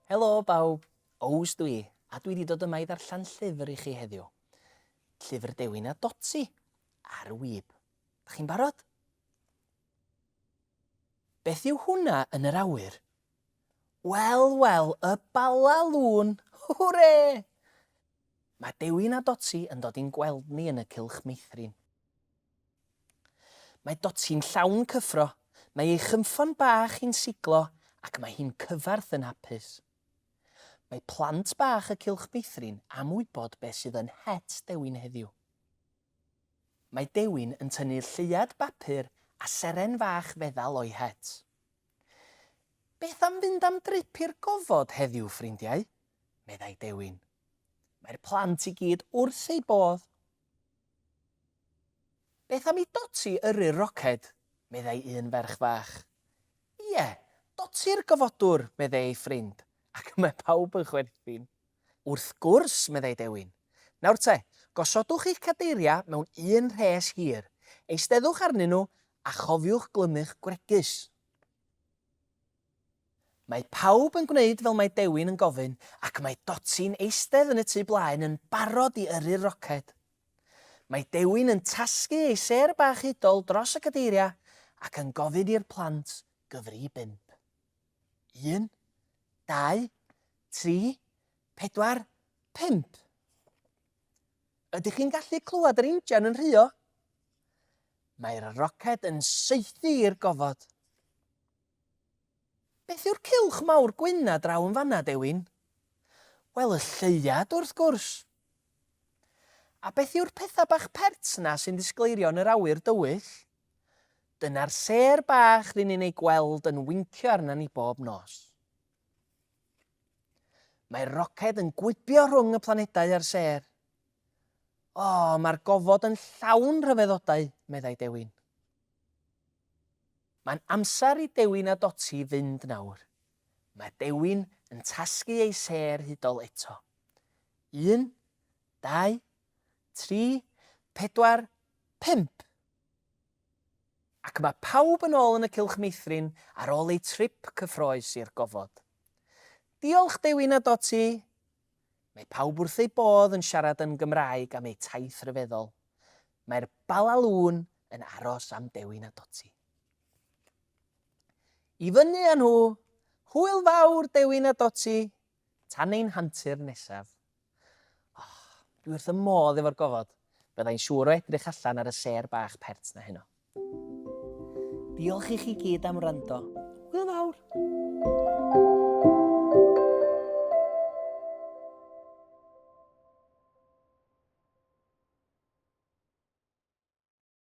Helo bawb, Ows dwi, a dwi wedi dod yma i ddarllen llyfr i chi heddiw. Llyfr Dewin a Dotsi, ar y wyb. Da chi'n barod? Beth yw hwnna yn yr awyr? Wel, wel, y Bala Lôn! Hwre! Mae Dewi'n a Doti yn dod i'n gweld ni yn y cylch meithrin. Mae Doti'n llawn cyffro, mae ei chynffon bach hi'n siglo ac mae hi'n cyfarth yn hapus. Mae plant bach y cylch meithrin am wybod beth sydd yn het Dewi'n heddiw. Mae Dewi'n yn tynnu lleuad bapur a seren fach feddal o'i het. Beth am fynd am drip i'r gofod heddiw, ffrindiau? meddai Dewin. Mae'r plant i gyd wrth eu bodd. Beth am i Doti yrru'r roced? meddai un ferch fach. Ie, Doti'r gofodwr, meddai ei ffrind, ac y mae pawb yn chwerthin. Wrth gwrs, meddai Dewin. Nawr te, gosodwch eich cadeiriau mewn un rhes hir, eisteddwch arnyn nhw a chofiwch glymu'ch gwregys. Mae pawb yn gwneud fel mae Dewin yn gofyn ac mae Doti'n eistedd yn y tu blaen yn barod i yrru'r roced. Mae Dewin yn tasgu ei sêr bach hudol dros y cadeiriau ac yn gofyn i'r plant gyfri i bump. 1, 2, 3, 4, 5. Ydych chi'n gallu clywed yr injan yn rhuo? Mae'r roced yn saethu i'r gofod. Beth yw'r cilch mawr gwyn a draw yn fanna, Dewin? Wel, y lleuad, wrth gwrs. A beth yw'r pethau bach pert 'na sy'n ddisgleirio yn yr awyr dywyll? Dyna'r sêr bach ry'n ni'n ei gweld yn wincio arna ni bob nos. Mae'r roced yn gwibio rhwng y planedau a'r sêr. O, mae'r gofod yn llawn rhyfeddodau, meddai Dewin. Mae'n amser i Dewin a Doti fynd nawr. Mae Dewin yn tasgu ei sêr hudol eto. Un, dau, tri, pedwar, pump! Ac mae pawb yn ôl yn y cylch meithrin ar ôl eu trip cyffroes i'r gofod. Diolch Dewin a Doti! Mae pawb wrth eu bodd yn siarad yn Gymraeg am eu taith ryfeddol. Mae'r Balalŵn yn aros am Dewin a Doti. I fyny â nhw! Hwyl fawr, Dewin a Doti! Tan ein hantur nesaf. Oh, dwi wrth y modd efo'r gofod. Byddai'n siŵr o edrych allan ar y sêr bach pert na heno. Diolch i chi gyd am wrando. Hwyl fawr!